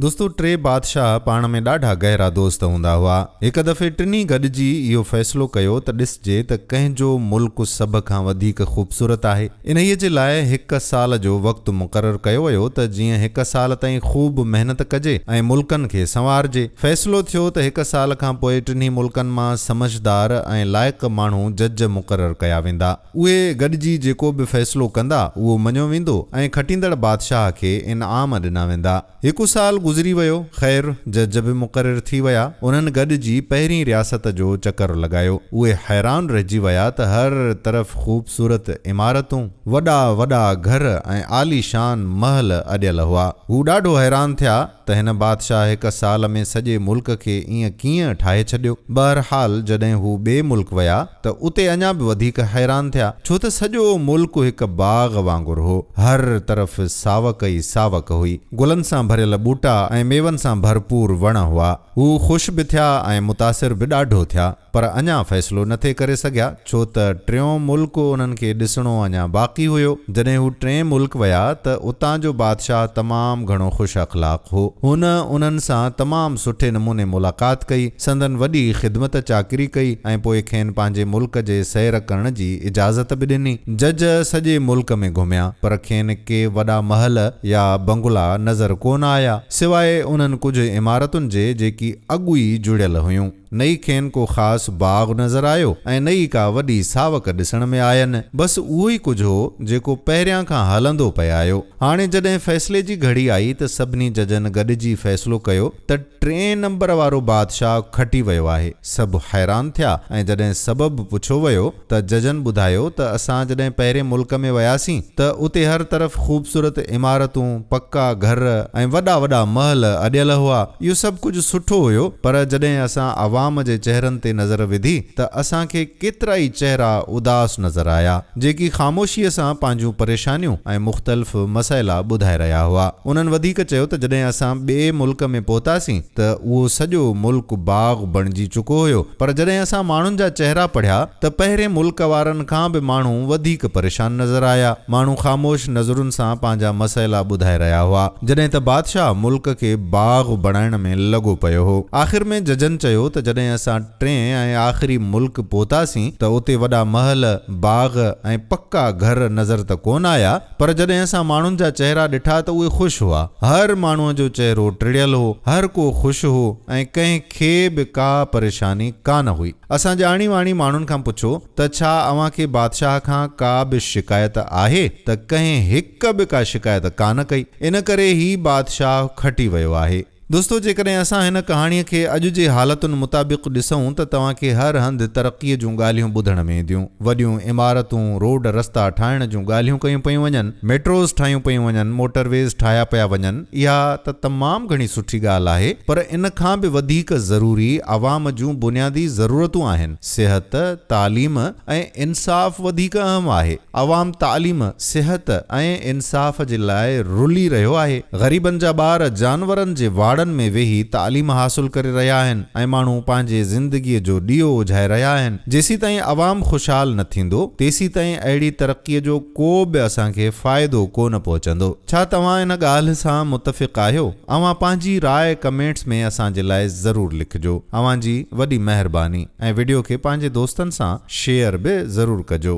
دوستو ٽي بادشاهه پاڻ ۾ ڏاڍا گهرا دوست هوندا هئا. هڪ دفعي ٽنهي گڏجي اهو فيصلو ڪيو ته ڏسجي ته ڪنهن جو ملڪ سڀ کان وڌيڪ خوبصورت آهي. انهيء جي لاء هڪ سال جو وقت مقرر ڪيو ويو ته جيئن هڪ سال تائين خوب محنت ڪجي ۽ ملڪن کي سنوارجي. فيصلو ٿيو ته هڪ سال کان پوء ٽنهي ملڪن مان سمجهدار ۽ لائق ماڻهو جج مقرر ڪيا ويندا. اهي گڏجي جيڪو به فيصلو ڪندا، اهو مڃيو ويندو ۽ کٽيندڙ بادشاهه کي انعام ڏنا ويندا. هڪ سال گذري ويو. خير، جج به مقرر ٿي ويا. انهن گڏجي پهرين رياست جو چڪر لڳايو. اهي حيران رهجي ويا ته هر طرف خوبصورت عمارتون، وڏا وڏا گهر ۽ عاليشان محل اڏيل هئا. هو ڏاڍو حيران ٿيا. ته هن بادشاهه هڪ سال ۾ سڄي ملڪ کي ائين ڪيئن ٺاهي ڇڏيو؟ بهرحال جڏهن هو ٻئي ملڪ ويا ته اتي اڃا به وڌيڪ حيران ٿيا، ڇو ته سڄو ملڪ هڪ باغ وانگر هو، هر طرف ساوڪ ئي ساوڪ هئي، گلن سان ڀريل ٻوٽا ۽ ميون سان ڀرپور وڻ هئا. هو خوش به ٿيا ۽ متاثر به ڏاڍو ٿيا. پر اڃا فيصلو نه ٿي ڪري سگهيا ڇو ته ٽيون ملڪ انهن کي ڏسڻو اڃا باقي هيو. جڏهن هو ٽئين ملڪ ويا ته اتان جو بادشاهه تمام گهڻو خوش اخلاق هو. هن انهن سان تمام سٺي نموني ملاقات ڪئي، سندن وڏي خدمت چاڪري ڪئي ۽ پوء کين پنهنجي ملڪ جي سير ڪرڻ جي اجازت به ڏني. جج سڄي ملڪ ۾ گهميا پر کين ڪي وڏا محل يا بنگلا نظر ڪونه آيا سواء انهن ڪجهه عمارتن جي جيڪي اڳ ئي جڙيل هيون. نه ئي کين ڪو خاص باغ نظر آيو ۽ نه ئي ڪا وڏي ساوڪ ڏسڻ ۾ آين. بس اهو ئي ڪجهه هو، جيڪو پهريان کان هلندو پيايو. هاڻي جڏهن فيصلي جي گهڙي آئي ته سڀني ججن گڏجي فيصلو ڪيو ته ٽئين نمبر وارو بادشاهه کٽي ويو آهي. سڀ حيران ٿيا ۽ جڏهن سبب پڇيو ويو. ته ججن ٻڌايو ته اسان جڏهن پهرين ملڪ ۾ وياسين ته اتي هر طرف خوبصورت عمارتون، پڪا گهر ۽ وڏا وڏا محل اڏيل هئا. اهو سڀ ڪجهه سٺو هيو پر جڏهن اسان عوام جي چهرن تي نظر وڌي ته اسان کي ڪيترائي چهرا اداس نظر آيا جيڪي خاموشيء سان پنهنجون پريشانيون ۽ مختلف مسئلا ٻڌائي رهيا هئا. انهن وڌيڪ چيو ته جڏهن اسان ٻئي ملڪ ۾ پهتاسين ته اهو سڄو ملڪ باغ، بڻجي چڪو هيو پر جڏهن اسان ماڻهن جا چهرا پڙهيا ته پهرين ملڪ وارن کان به ماڻهو وڌيڪ پريشان نظر آيا ماڻهو خاموش نظرن سان پنهنجا مسئلا ٻڌائي رهيا هئا جڏهن ته بادشاهه ملڪ کي باغ بڻائڻ ۾ لڳو پيو هو آخر ۾ ججن چيو ته جڏهن اسان ٽئين ۽ آخري ملڪ پهتاسين ته اتي وڏا محل باغ ۽ پڪا گهر نظر ته ڪونه آيا پر جڏهن اسان ماڻهن جا چهرا ڏٺا ته اهي خوش هئا. هر ماڻهوء جو چهرو ٽڙيل هو، هر ڪو خوش هو ۽ ڪنهن کي به ڪا پريشاني ڪا نه هئي. اسان ڄاڻي واڻي ماڻهن کان پڇو ته ڇا اوهان کي بادشاهه کان ڪا به شڪايت آهي ته ڪنهن هڪ به ڪا شڪايت ڪا نه ڪئي. ان ڪري هي بادشاهه کٽي ويو آهي. دوستو جيڪڏهن اسان هن ڪهاڻي کي اڄ جي حالتن مطابق ڏسون ته توهان کي هر هنڌ ترقي جون ڳالهيون ٻڌڻ ۾ اينديون، وڏيون عمارتون، روڊ رستا ٺاهڻ جون ڳالهيون ڪيون پيون وڃن، ميٽروز ٺاهيون پيون وڃن، موٽرويز ٺاهيا پيا وڃن، اها ته تمام گهڻي سٺي ڳالهه آهي پر ان کان به وڌيڪ ضروري عوام جون بنيادي ضرورتون آهن، صحت، تعليم ۽ انصاف وڌيڪ اهم آهي. عوام تعليم، صحت ۽ انصاف جي لاء رلي رهيو آهي. غريبن جا ٻار جانورن جي واڙن ۾ ويهي تعليم حاصل ڪري رهيا آهن ۽ ماڻهو پنهنجي زندگيء جو ڏيئو اجهائي رهيا آهن. جيسيتائين عوام خوشحال نه ٿيندو، تيسيتائين اهڙي ترقيء جو ڪو به اسان کي فائدو ڪو نه پهچندو. ڇا توهان ان ڳالهه سان متفق آهيو؟ اوهان پنهنجي راء ڪمينٽس ۾ اسان جي لاء ضرور لکجو. اوهان جي وڏي مهرباني ۽ وڊيو کي پنهنجي دوستن سان شيئر به ضرور ڪجو.